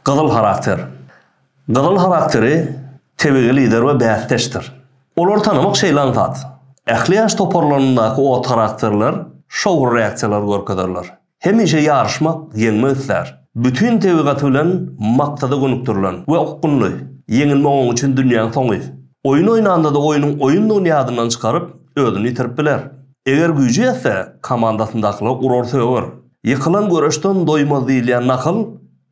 Gyzyl harakter. Gyzyl harakteri tebigy lider we bäsdeşdir. Olary tanamak şeýlan zat. Ähli ýaş toparlaryndaky ot harakterler şowly reaksiýalary görkezerler. Hemişe ýaryşmak, ýeňmek islär. Bütin tebigaty bilen maksada gönükdirilen we okgunly. Ýeňilmek oň üçin dünýäň soňy. Oýun oýnanda-da oýnuň oýundygyny ýadyndan çykaryp, özüni ýitirip biler. Eger güýji ýetse, komandasyndakylar urar-söger. Ýykylan göreşden doýmaz diýilýän nakyl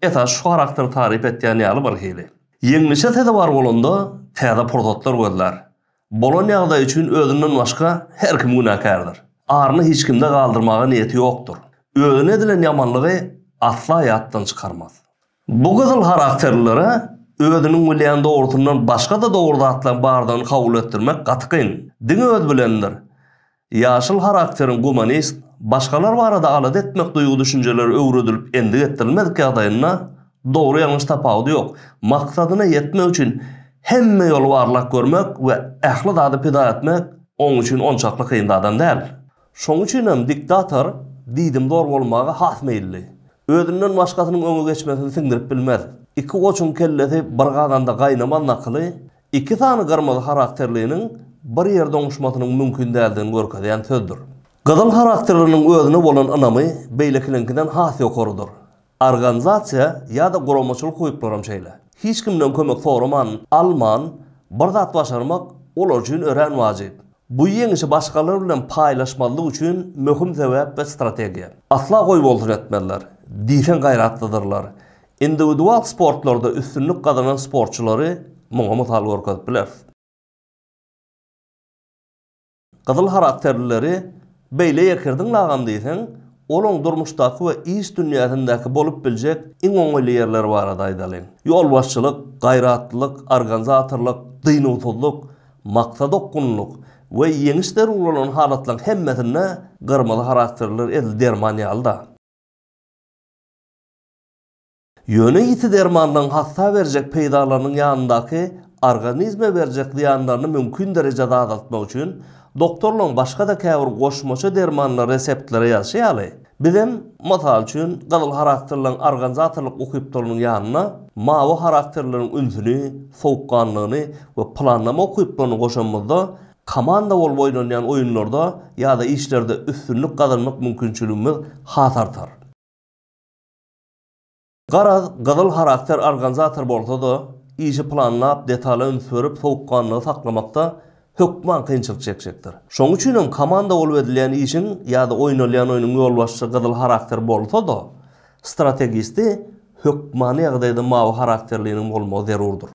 esasy şu harakteri taryp etýän ýaly birhili. Ýeňlişe sezewar bolanda, täze pursatlar gözlär. Bolan ýagdaý üçin özünden başga her kim günäkärdir. Aryny hiç kimde galdyrmaga niýeti ýokdur. Özüne edilen ýamanlygy asla ýatdan çykarmaz. Bu gyzyl harakterlilere özüniň bilýän dogrusyndan başga-da dogry zatlaryň bardygyny kabul etdirmek gaty kyn. Diňe özi bilendir. Ýaşyl harakteriň gumanist, başgalar barada alada etmek duýgy-düşünjeleri öwredilip endik etdirilmedik ýagdaýynda, dogry-ýalňyş tapawudy ýok, maksadyna ýetmek üçin hemme ýoly barlap görmek we ähli zady pida etmek oň üçin onçakly kyn zadam däl. Şoň üçin hem diktator diýdimzor bolmaga has meýilli. Özünden başgasynyň öňe geçmesini siňdirip bilmez. Iki goçuň kellesi bir gazanda gaýnamaz nakyly Iki sany gyrmyzy harakterliniň bir ýerde oňuşmasynyň mümkin däldigini görkezýän sözdür. Gyzyl harakterliniň özüne bolan ynamy beýlekiniňkiden has ýokarydyr. Organizasiýa ýa-da guramaçylyk ukyplaram şeýle. Hiç kimden kömek soraman, alman, bir zat başarmak olar üçin örän wajyp. Bu ýeňişi başgalar bilen paýlaşmazlyk üçin möhüm sebäp we strategiýa. Asla goý bolsun etmezler. Diýseň gaýratlydyrlar. Indiwidual sportlarda üstünlik gazanan sportçylary muňa mysal görkezip bileris. Gyzyl harakterlileri beýle ýekirdiň lagam diýseň, olaň durmuşdaky we iş dünýäsindäki bolup biljek iň oňaýly ýerleri barada aýdalyň. Ýolbaşçylyk, gaýratlylyk, organizatorlyk, dynuwsyzlyk, Maksat okgunlylyk we ýeňiş zerur bolan halatlaryň hemmesinde gyrmyzy harakterliler edil derman ýaly-da. Ýöne ýiti dermanlaryň hassa berjek peýdalarynyň ýanyndaky organizme berjek zyýanlaryny mümkin derejede azaltmak üçin doktorlaryň başga-da käbir goşmaça dermanlary reseptlere ýazşy ýaly, Bizem, mysal üçin, gyzyl harakterleriň organizatorlyk ukypdylynyň ýanyna mawy harakterleriň ünsüni, sowukganlygyny we planlama ukypdylyny goşanymyzda, komanda bolup oýnalýan oýunlarda ýa-da işlerde üstünlik gazanmak mümkinçiligimiz has artar. Garaz, gyzyl harakter organizator bolsa-da, işi planlap, detala üns berip, sowukganlygy saklamakda hökman kynçylyk çekjekdir. Şonuň üçin hem komanda bolup edilýän işiň ýa-da oýnalýan oýnuň ýolbaşçysy gyzyl harakter bolsa-da, strategisti hökmany ýagdaýda mawy harakterliniň bolmagy zerurdyr.